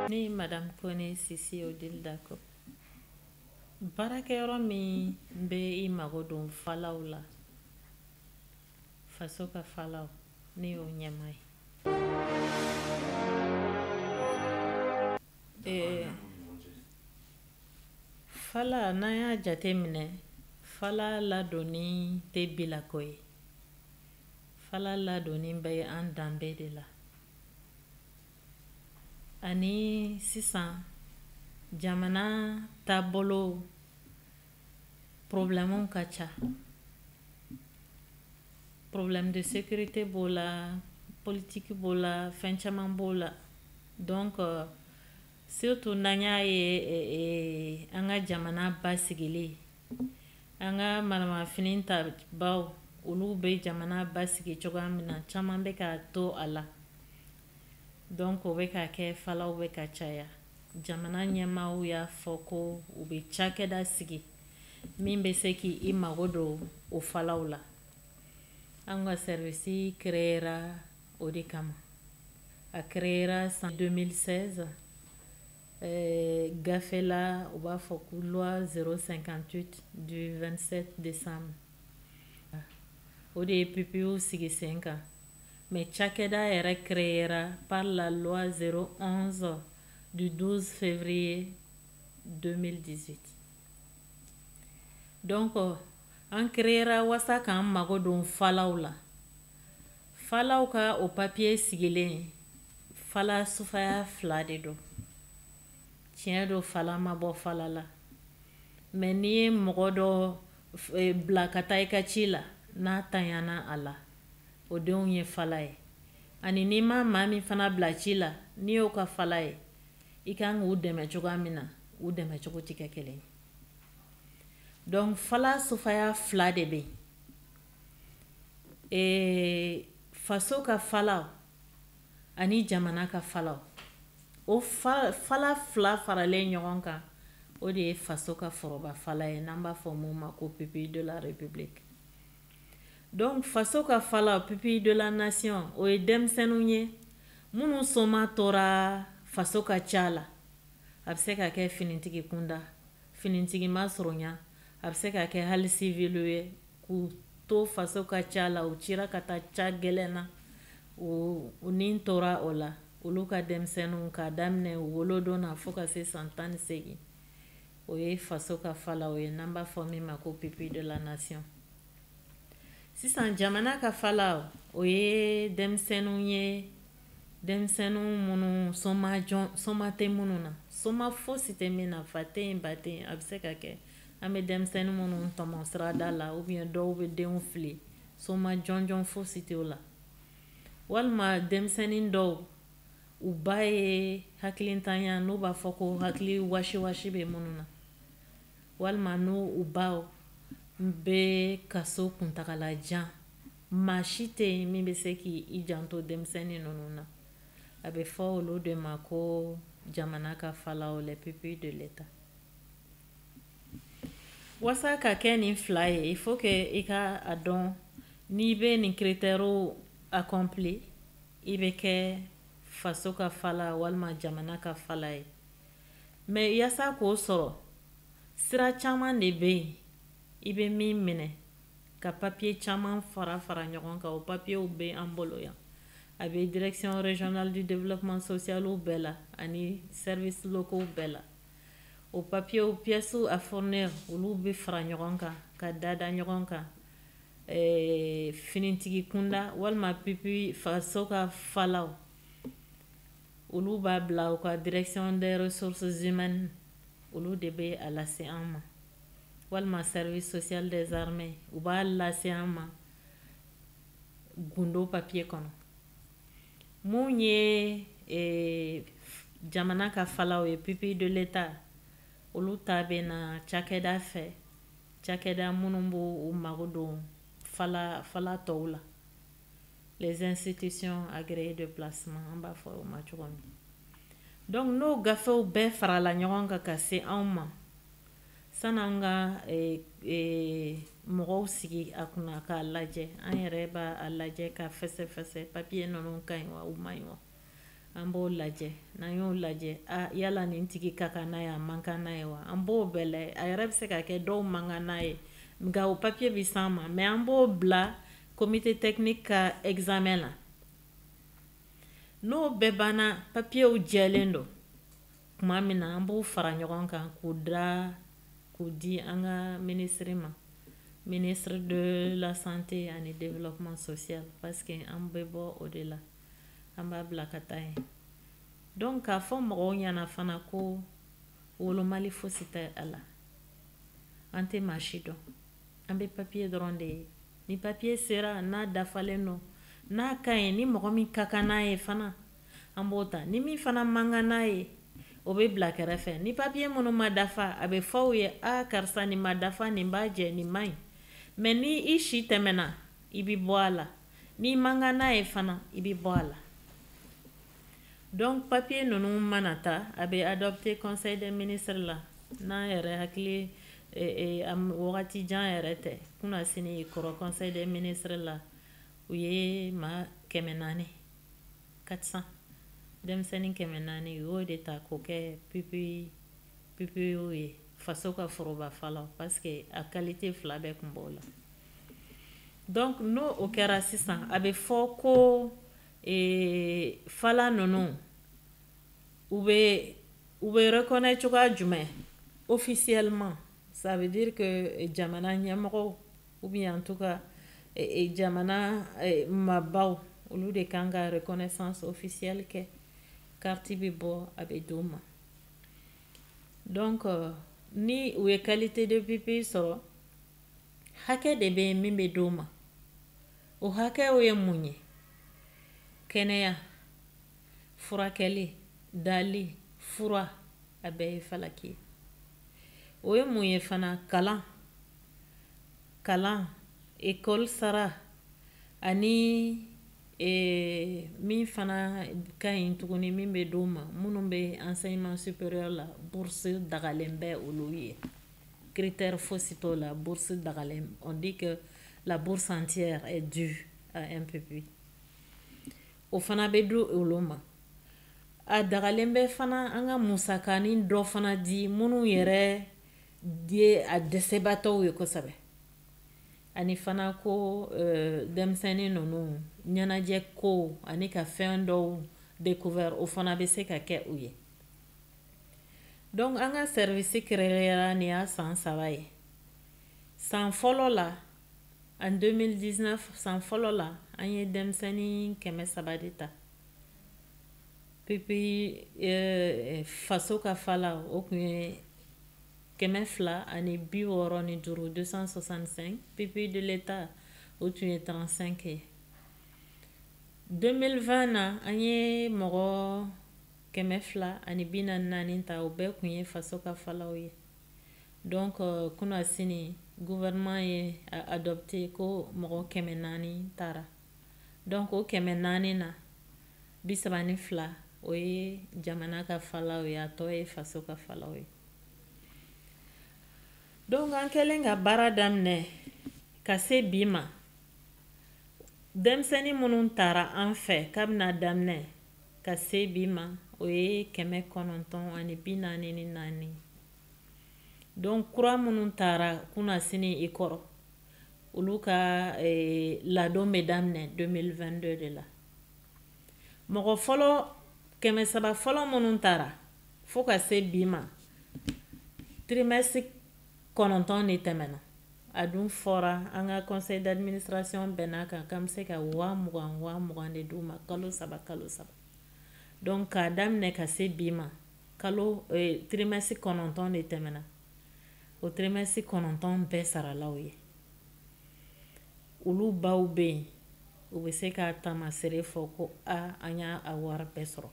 ne ye madame kone sisi odile dako baarakɛyɔrɔ min bɛ i mago don falaw la faso ka falaw ne y'o ɲɛmaa ye ee, fala n'an y'a jate minɛ fala ladonni tɛ bilako ye fala ladonni bɛ an danbe de la ani sisan jamana taabolo problèmew ka ca problème de sécurité b'o la politiki b'o la fɛn caman b'o la donc euh, surtout n'an y'a ye eh, eh, an ka jamana basigilen an ka maramafɛn tabaw olu bɛ jamana basigi cogoya min na caman bɛ ka to a la donc o bɛ ka kɛ falaw bɛ ka caya jamana ɲɛmaaw y'a fɔ ko u bɛ cakɛda sigi min bɛ se k' i mago don o falaw la an ka service créera o de kama a créera san 2016 Ɛɛ gafe la u b'a fɔ ko loi 058 du 27 décembre o de ye pupillew sigi sen kan mais cakɛda yɛrɛ créera par la loi 011 du 12 février 2018 donc an créera wasa k'an mago don falaw la Falaw ka o papier sigilen fala sufaya fila de don tiɲɛ don fala ma bɔ fala la mais n'i ye mɔgɔ dɔ e, bila ka taa i ka ci la n'a tanyana a la o denw ye fala ye ani n'i ma maa min fana bila ci la n'i y'o ka fala ye i kan k'u dɛmɛ cogoya min na u dɛmɛ cogo tɛ kɛ kelen ye donc fala sufaya fila de bɛ yen ee faso ka falaw ani jamana ka falaw o fala fila faralen ɲɔgɔn kan o de ye faso ka foroba fala ye n'an b'a fɔ min ma ko pupille de la république donc faso ka falaw pupille de la nation o ye denmisɛnninw ye minnu somaa tora faso ka ca la a bɛ se ka kɛ finitigi kunda Finitigi masurunya a bɛ se ka kɛ hali civil ye k'u to faso ka ca la u cira ka taa ca gɛlɛn na u ni tora o la olu ka denmisɛnninw k'a daminɛ u wolodon na fo ka se san tan ni seegin o ye faso ka falaw ye n'an b'a fɔ min ma ko pupille de la nation sisan jamana ka falaw o ye denmisɛnninw ye denmisɛnninw minnu soma jɔn soma tɛ minnu na soma fosi tɛ min na fa tɛ yen ba tɛ yen a bɛ se ka kɛ an bɛ denmisɛnnin minnu tɔmɔ sirada la ou bien dɔw bɛ denw fili soma jɔnjɔn fosi tɛ o la walima denmisɛnnin dɔw u ba ye hakilintanya n'u b'a fɔ ko hakili wasiwasi bɛ minnu na walima n'u u baw bɛ kaso kuntagala jan maa si tɛ yen min bɛ se k'i janto denmisɛnnin ninnu na a bɛ fɔ olu de ma ko jamana ka falaw les pupilles de l'État wasa ka kɛ nin fila ye il faut que i ka a dɔn n'i bɛ nin critèrew accompli i bɛ kɛ faso ka fala walima jamana ka fala ye mais yaasa k'o sɔrɔ sira caman de bɛ yen i bɛ min minɛ ka papier caman fara fara ɲɔgɔn kan o papiyew bɛ an bolo yan a bɛ direction régionale du développement social bɛɛ la ani services locaux bɛɛ la o papiyew pièces à fournir olu bɛ fara ɲɔgɔn kan ka da da ɲɔgɔn kan ɛɛ finitigi kunda walima pupille faso ka falaw olu b'a bila u ka direction des ressources humaines olu de bɛ a lase an ma walima service social des armées u b'a lase an ma gundo papiye kɔnɔ mun ye eh, jamana ka falaw ye pupille de l'État olu ta bɛ na cakɛda fɛ cakɛda minnu b'u mago don fala falatɔw la les institutions agréées de placement an b'a fɔ o ma cogo min donc n'o gafew bɛɛ farala ɲɔgɔn kan ka se anw ma san'an ka eh, eh, mɔgɔw sigi a kunna k'a lajɛ an yɛrɛ b'a lajɛ ka fɛsɛfɛsɛ papiye ninnu ka ɲi wa u man ɲi wa an b'o lajɛ n'an y'o lajɛ yala nin tigi ka kan n'a ye a man kan n'a ye wa an b'o bɛɛ lajɛ a yɛrɛ bɛ se ka kɛ dɔw man kan n'a ye nka o papiye bɛ s'an ma mais an b'o bila comité technique ka examen na n'o bɛɛ banna papiyew jɛlen don tuma min na an b'o fara ɲɔgɔn kan k'o da k'o di an ka ministre ma ministre de la santé ani développement social parce que an bɛ bɔ o de la an b'a bila ka taa yen donc k'a fɔ mɔgɔw ɲɛna fana ko wolomali fosi tɛ a la an tɛ maa si dɔn an bɛ papiye dɔrɔn de ye ni papiye sera n'a dafalen don n'a ka ɲi ni mɔgɔ min ka kan n'a ye fana an b'o ta ni min fana man kan n'a ye o bɛ bila kɛrɛfɛ ni papiye minnu ma dafa a bɛ fɔ u ye a karisa nin ma dafa nin b'a jɛ nin man ɲi mais ni i si tɛmɛna i bɛ bɔ a la n'i man kan n'a ye fana i bɛ bɔ a la donc papier ninnu mana ta a bɛ adopté conseil des ministres la n'an yɛrɛ hakili eh, eh, wagati jan yɛrɛ tɛ kunasinin kɔrɔ conseil des ministres la u ye maa kɛmɛ naani 400 denmisɛnnin kɛmɛ naani u y'o de ta k'o kɛ pupi pupilles ye faso ka foroba falaw parce que a qualité fila bɛɛ tun b'o la dɔn n'o o kɛra sisan a bɛ fɔ ko fa ninnu u bɛ u bɛ yɛrɛ kɔnɛ cogoya jumɛn o fisiyalima sabibiri ka jamana ɲɛmɔgɔ u bɛ yan to ka jamana mabɔbaww olu de kan ka yɛrɛ kɔnɛ san o fisiyali kɛ kati bɛ bɔ a bɛ di' ma dɔn ni u ye kalite de bɛ pe sɔrɔ hakɛ de bɛ yen min bɛ d'o ma o hakɛw ye mun ye kɛnɛya furakɛli dali fura a bɛɛ ye falaki ye o ye mun ye fana kalan kalan école sara ani eh, min fana ka ɲi tuguni min bɛ d'o ma minnu bɛ enseignement supérieur la bourse dagalen bɛ olu ye critère fosi t'o la bourse dagalen on dit que la bourse entière est due à un pupille o fana bɛ di olu ma a dagalen bɛ fana an ka musakanin dɔ fana di minnu yɛrɛ ye a dɛsɛbaatɔw ye kosɛbɛ ani fana ko euh, denmisɛnnin ninnu ɲɛnajɛ ko ani ka fɛn dɔw découvert o fana bɛ se ka kɛ u ye donc an ka service créera nin y'a san saba ye san fɔlɔ la en 2019 san fɔlɔ la an ye denmisɛnnin kɛmɛ saba de ta pupilles eh, faso ka fala o tun ye kɛmɛ fila ani bi wɔɔrɔ ni duuru 265 pupilles de l'État o tun ye 35 ye 2020 na an ye mɔgɔ kɛmɛ fila ani bi naani ni naani ta o bɛɛ kun ye faso ka falaw ye donc euh, kuna sini gouvernement ye adopté ko mɔgɔ kɛmɛ naani taara donc o kɛmɛ naani na bi saba ni fila o ye jamana ka falaw ye a tɔ ye faso ka falaw ye donc an kɛlen ka baara daminɛ ka se bi ma denmisɛnnin minnu tara an fɛ kabini a daminɛ ka se bi ma o ye kɛmɛ kɔnɔntɔn ani bi naani ni naani donc kura minnu taara kunna sini i kɔrɔ olu ka eh, ladon bɛ daminɛ 2022 de la mɔgɔ fɔlɔ kɛmɛ saba fɔlɔ minnu taara fo ka se bi ma trimɛsi kɔnɔntɔn de tɛmɛna a dun fɔra an ka conseil d'administration bɛnn'a kan k'an bɛ se ka waa mugan waa mugan de d'u ma kalo saba kalo saba donc k'a daminɛ ka se bi ma kalo eh, trimɛsi kɔnɔntɔn de tɛmɛna o trimɛsi kɔnɔntɔn bɛɛ sarala u ye olu baw bɛ yen u bɛ se k'a taamaseere fɔ ko a an y'a a wari bɛɛ sɔrɔ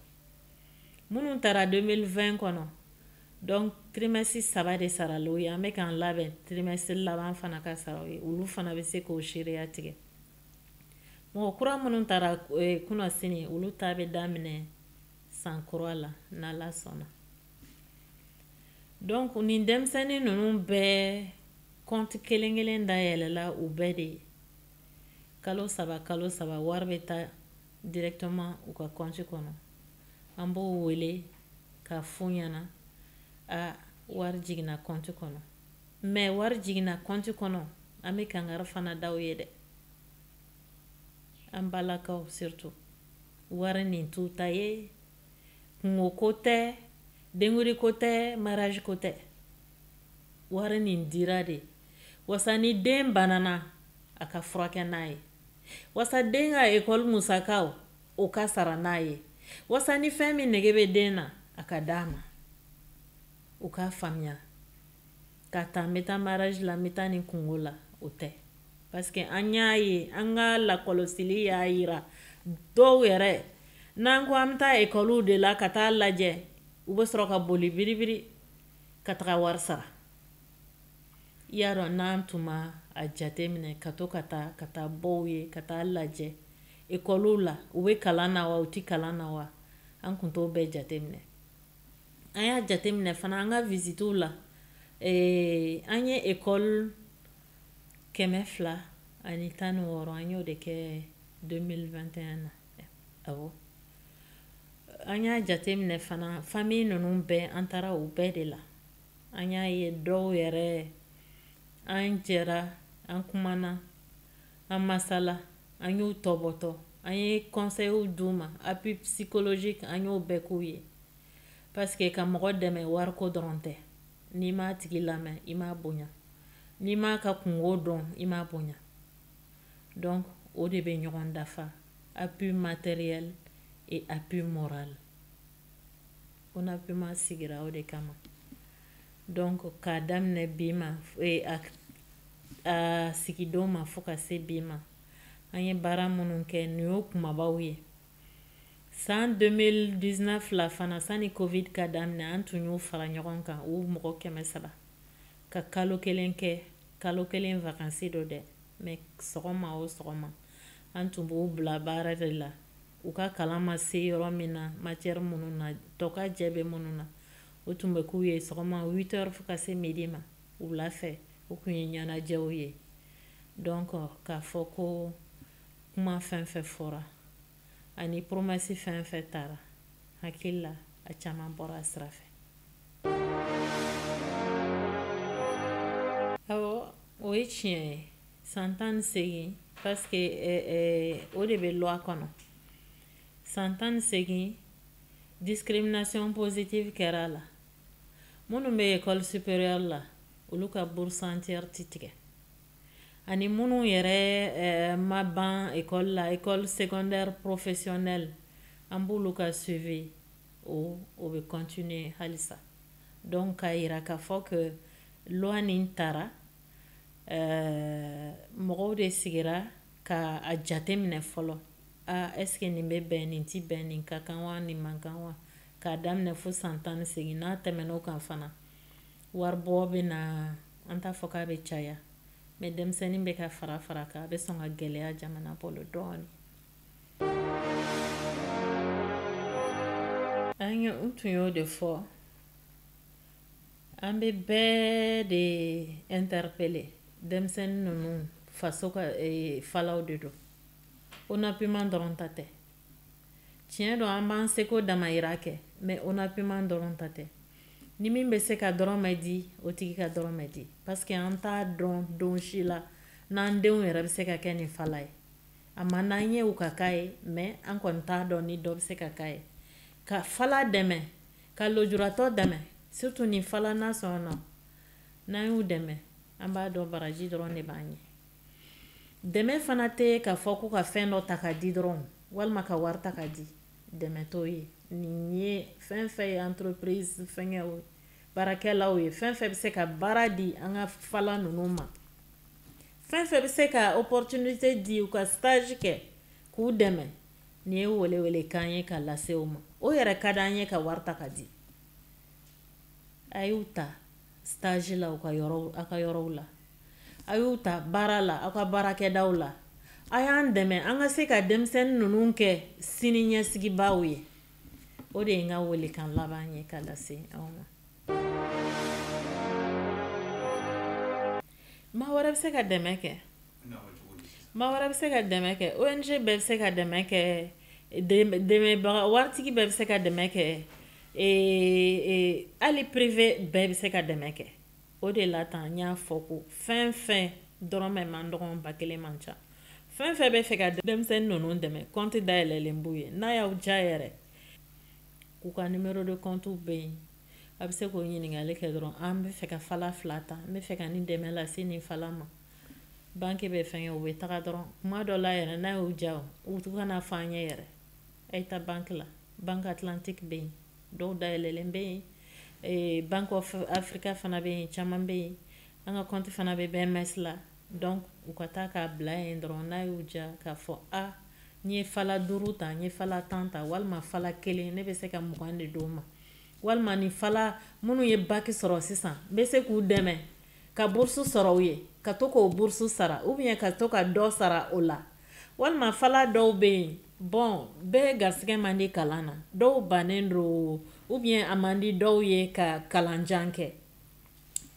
minnu taara 2020 kɔnɔ donc trimɛsi saba de sarala u ye an bɛ k'an labɛn trimɛsi laban fana ka sara u ye olu fana bɛ se k'o seereya tigɛ mɔgɔ kura minnu taara eh, kunna sini olu ta bɛ daminɛ san kura la n'ala sɔnna donc nin denmisɛnnin ninnu bɛɛ kɔnti kelen kelen dayɛlɛla u bɛɛ de ye kalo saba kalo saba wari bɛ taa directement u ka kɔnti kɔnɔ an b'o wele k'a f'u ɲɛna a wari jiginna kɔnti kɔnɔ mais wari jiginna kɔnti kɔnɔ an bɛ kangari fana d'u ye dɛ an balakaw surtout wari nin t'u ta ye kungo ko tɛ denkundi ko tɛ mariage ko tɛ wari nin dira de wasa ni den banana a ka furakɛ n'a ye wasa den ka ekɔli musakaw o ka sara n'a ye wasa ni fɛn min nege bɛ den na a ka d'a ma u k'a faamuya k'a ta n bɛ taa mariage la n bɛ taa nin kungo la o tɛ parce que an y'a ye an ka lakɔlɔsili y'a yira dɔw yɛrɛ n'an ko an bɛ taa ekɔliw de la ka taa lajɛ u bɛ sɔrɔ ka boli biribiri ka taga wari sara i y'a dɔn n'an tun ma a jate minɛ ka to ka taa ka taa bɔ u ye ka taa lajɛ Ekɔliw la, u bɛ kalan na wa u tɛ kalan na wa? An tun t'o bɛɛ jateminɛ. An y'a jateminɛ fana an ka visitew la, an ye ekɔli kɛmɛ fila ani tan ni wɔɔrɔ an y'o de kɛ 2021 na, awɔ, an y'a jateminɛ fana famille ninnu bɛɛ an taara u bɛɛ de la, an y'a ye dɔw yɛrɛ an jɛra an kumana an masala an y'u tɔbɔtɔ an ye kɔnsɛyiw d'u ma appui psychologique an y'o bɛɛ k'u ye parce que ka mɔgɔ dɛmɛ wariko dɔrɔn tɛ n'i m'a tigi lamɛn i m'a bonya n'i m'a ka kunko dɔn i m'a bonya donc o de bɛ ɲɔgɔn dafa appui matériel et appui moral ONAPUMA sigira o de kama donc k'a daminɛ bi ma e, a, a sigidon ma fo ka se bi ma an ye baara minnu kɛ nin y'o kumabaw ye san 2019 la fana sani covid ka daminɛ an tun y'u fara ɲɔgɔn kan u mɔgɔ kɛmɛ saba ka kalo kelen kɛ kalo kelen vakansi don dɛ mais sɔgɔma o sɔgɔma an tun b'u bila baara de la u ka kalan ma se yɔrɔ min na matiyɛri minnu na tokajɛ bɛ minnu na o tun bɛ k'u ye sɔgɔma 8 heures fo ka se midi ma wula fɛ o tun ye ɲɛnajɛw ye donc k'a fɔ ko kuma fɛn fɛn fɔra ani promesse fɛn fɛn tara hakili la a caman bɔra a sira fɛ awɔ o ye tiɲɛ ye san tan ni segin parce que eh, eh, o de bɛ loi kɔnɔ san tan ni segin discrimination positive kɛra a la minnu bɛ école supérieure la olu ka bourse entière ti tigɛ ani minnu yɛrɛ eh, ma ban école la école secondaire professionnelle an b'olu ka suivi o o bɛ continuer halisa donc k'a yira k'a fɔ ko loi nin tara eh, mɔgɔw de sigira ka a jate minɛ fɔlɔ aa est-ce que nin bɛ bɛn nin tɛ bɛn nin ka kan wa nin man kan wa k'a daminɛ fo san tan ni segin n'a tɛmɛn'o kan fana waribɔ bɛna an t'a fɔ k'a bɛ caya mais denmisɛnnin bɛ ka fara fara kan a bɛ sɔn ka gɛlɛya jamana bolo dɔɔnin an ye n tun y'o de fɔ an bɛ bɛɛ de interpeller denmisɛnnin ninnu faso ka eh, falaw de don onapuma dɔrɔn ta tɛ tiɲɛ don an b'an seko damayira kɛ mais onapuma dɔrɔn ta tɛ ni min bɛ se ka dɔrɔmɛ di o tigi ka dɔrɔmɛ di parce que an t'a dɔn don si la n'an denw yɛrɛ bɛ se ka kɛ nin fala ye a man d'an ye u ka k'a ye mais an kɔni t'a dɔn ni dɔ bɛ se ka k'a ye ka fala dɛmɛ ka lujuratɔ dɛmɛ surtout nin fala nation na n'an y'u dɛmɛ an b'a dɔn baraji dɔrɔn de b'an ye dɛmɛ fana tɛ k'a fɔ ko ka fɛn dɔ ta ka di dɔrɔn walima ka wari ta ka di dɛmɛ t'o ye nin ye fɛn fɛn ye entreprise fɛngɛw baarakɛlaw ye fɛn fɛn bɛ se ka baara di an ka fala ninnu ma fɛn fɛn bɛ se ka opportunité di u ka stage kɛ k'u dɛmɛ nin ye welewelekan ye ka lase u ma o yɛrɛ ka d'an ye ka wari ta ka di a y'u ta stage la u ka yɔrɔw a ka yɔrɔw la a y'u ta baara la aw ka baarakɛdaw la a y'an dɛmɛ an ka se ka denmisɛnnin ninnu kɛ sini ɲɛsigibaaw ye o de ye n ka welekan laban ye ka lase aw ma maa wɛrɛ bɛ se ka dɛmɛ kɛ maa wɛrɛ bɛ se ka dɛmɛ kɛ ong bɛɛ bɛ se ka dɛmɛ kɛ dɛmɛbaga waritigi bɛɛ bɛ se ka dɛmɛ kɛ hali privé bɛɛ bɛ se ka dɛmɛ kɛ o de la tan n y'a fɔ ko fɛn fɛn dɔrɔmɛ man dɔgɔ ba kelen man ca fɛn fɛn bɛ fɛ ka denmisɛnnin ninnu dɛmɛ kɔnti dayɛlɛlen b'u ye n'a y'aw diya yɛrɛ k'u ka numéro de compte bɛ yen a bɛ se k'o ɲininkali kɛ dɔrɔn an bɛ fɛ ka fala fila ta n bɛ fɛ ka nin dɛmɛ lase nin fala ma banki bɛ fɛn kɛ u bɛ taga dɔrɔn kuma dɔ la yɛrɛ n'a y'u diya u kana fɔ an ɲɛ yɛrɛ a ye taa banki la banki atlantique bɛ yen dɔw dayɛlɛlen bɛ yen eh, bank of africa fana bɛ yen caman bɛ yen an ka kɔnti fana bɛ bms la donc u ka taa k'a bila yen dɔrɔn n'a y'u diya k'a fɔ a n ye fala duuru ta n ye fala tan ta walima fala kelen ne bɛ se ka mugan de d'o ma walima ni fala minnu ye baki sɔrɔ sisan n bɛ se k'u dɛmɛ ka burusu sɔrɔ u ye ka to k'o burusu sara ou bien ka to ka dɔ sara o la walima fala dɔw bɛ yen bon bɛɛ garisɛgɛ man di kalan na dɔw bannen don ou bien a man di dɔw ye ka kalanjan kɛ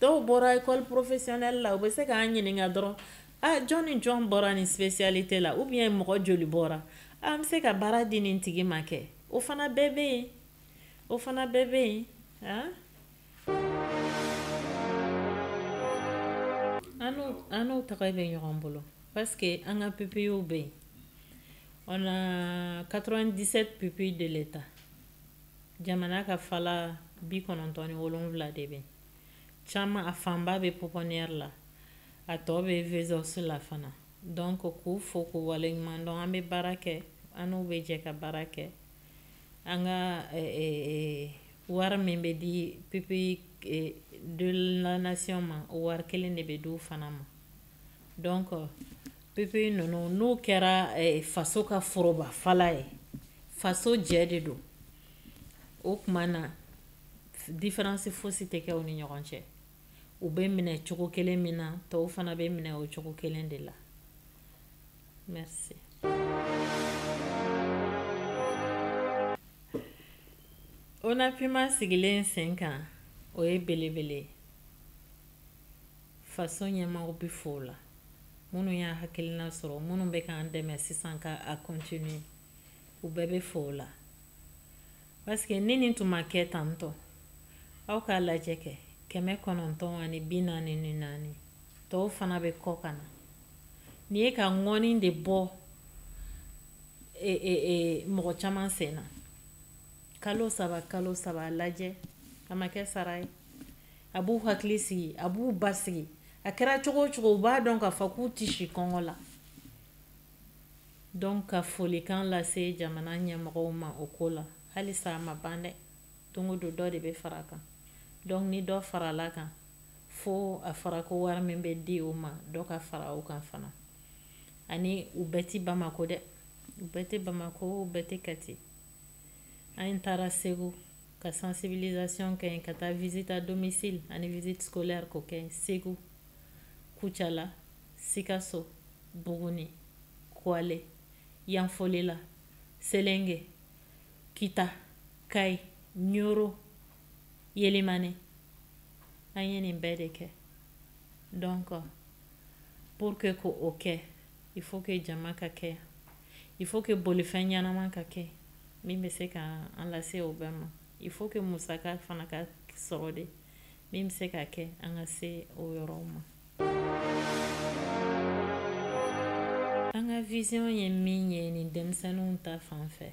dɔw bɔra école professionnelle la u bɛ se k'an ɲininka dɔrɔn a jɔn ni jɔn bɔra nin spécialité la ou bien mɔgɔ joli bɔra an bɛ se ka baara di nin tigi ma kɛ o fana bɛɛ bɛ yen o fana bɛɛ bɛ yen an n'u tɛgɛ bɛ ɲɔgɔn bolo parce que an ka pupillew bɛ yen on a 97 pupilles de l'État jamana ka fala bi kɔnɔntɔn ni wolonwula de bɛ caman a fanba bɛ pouponnière la a tɔ bɛ Vesos la fana donc k'u fo k'u waleɲuman dɔn an bɛ baara kɛ an n'u bɛ jɛ ka baara kɛ an ka wari min bɛ di pupilles de la nation ma o wari kelen de bɛ di u fana ma donc pupille ninnu n'u kɛra faso ka foroba fala ye faso jɛ de don o tuma na difaransi foyisi tɛ kɛ u ni ɲɔgɔn cɛ u bɛ minɛ cogo kelen min na tɔw fana bɛ minɛ o cogo kelen de la Merci. Onapuma sigilen sen kan o ye belebele ye faso ɲɛmɔgɔw bɛ fo o la minnu y'a hakilina sɔrɔ minnu bɛ k'an dɛmɛ sisan ka a continuer u bɛɛ bɛ fo o la paske ni nin tun ma kɛ tantɔ aw k'a lajɛ kɛ kɛmɛ kɔnɔntɔn ani bi naani ni naani tɔw fana bɛ kɔ ka na nin ye ka ŋɔni de bɔ e, e, e, mɔgɔ caman sen na kalo saba kalo saba a lajɛ a ma kɛ sara ye a b'u hakili sigi a b'u basigi a kɛra cogo o cogo u b'a dɔn k'a fɔ k'u tɛ si kɔngɔ la Donc ka folikan lase jamana ɲɛmɔgɔw ma o ko la halisa a ma ban dɛ don o don dɔ de bɛ fara a kan donc ni dɔ farala kan fo a fɔra ko wari min bɛ di u ma dɔ ka fara o kan fana ani u bɛɛ tɛ bamako dɛ u bɛɛ tɛ bamako u bɛɛ tɛ kati an taara segu ka sensibilisation kɛ yen ka taa visite à domicile ani visite scolaire ko kɛ segu kucala Sikaso, Buguni, Kuale, Yanfolila, Selenge, Kita, Kayi, Ɲɔrɔ, Yelimane. An ye nin bɛɛ de kɛ. Donc, pour que k'o kɛ, il faut que jama ka kɛ yan. Il faut que bolifɛn ɲɛnama ka kɛ min bɛ se ka an lase o bɛɛ ma. Il faut que musaka fana ka sɔrɔ de. min bɛ se ka kɛ an ka se o yɔrɔw ma an ka vision ye min ye nin denmisɛnninw ta fan fɛ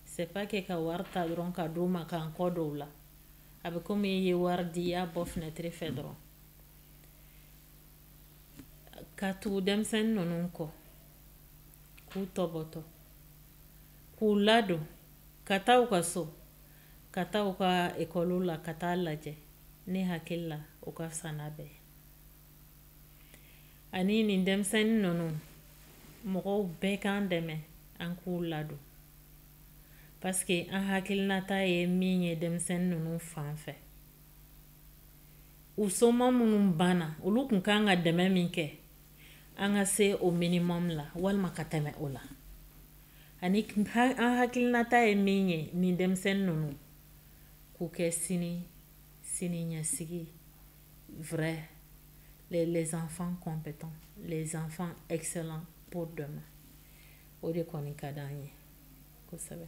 c'est pas que ka wari ta dɔrɔn ka d'u ma k'an kɔ don u la a bɛ komi i ye wari di i y'a bɔ fenɛtiri fɛ dɔrɔn ka tugu denmisɛnnin ninnu kɔ k'u tɔbɔtɔ k'u ladon ka taa u ka so ka taa u ka ekɔliw la ka taa lajɛ ne hakili la o ka fisa n'a bɛɛ ani nin denmisɛnnin ninnu mɔgɔw bɛɛ k'an dɛmɛ an k'u ladon paske an hakilinata ye min ye denmisɛnnin ninnu fan fɛ u soma minnu banna olu tun kan ka dɛmɛ min kɛ an ka se o minimum la walima ka tɛmɛ o la ani an hakilinata ye min ye nin denmisɛnnin ninnu k'u kɛ sini sini ɲɛsigi vrai les enfants compétents les enfants excellents pour demain o de kɔni ka d'an ye kosɛbɛ